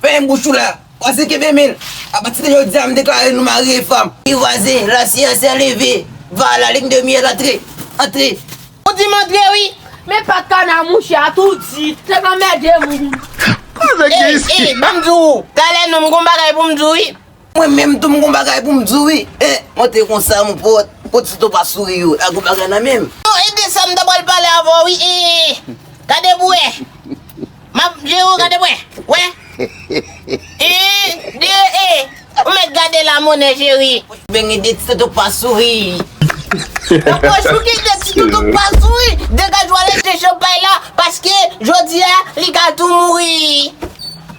Fèmen bouch ou la, vwazen kenbe men l. Apati de jodi a m deklare nou mari e fanm. Wi vwazen, la siyans se leve. Va a la lin de miyèl antre, antre. Ou di m antre wi. Men pat kana mouche a tou di. Se k anmède moun. Ey, ey, ban m di w, talè non m gen yon bagay pou m di w wi. Mwen menm tou m gon bagay pou m di w wi e monte konsa mon pote kot si to pa souri yo la gon bagay nan menm. Bon e de sa m ta pral pale avè w wi e gade pou w wè m ap jere w gade pou w wè wè yn de e ou mèt gade la monè cheri. Beny e de ti toto pa souri. Nan pochou ki de ti toto pa souri degaj w ale jwe chanpay la paske jodi a li ka tou mouri.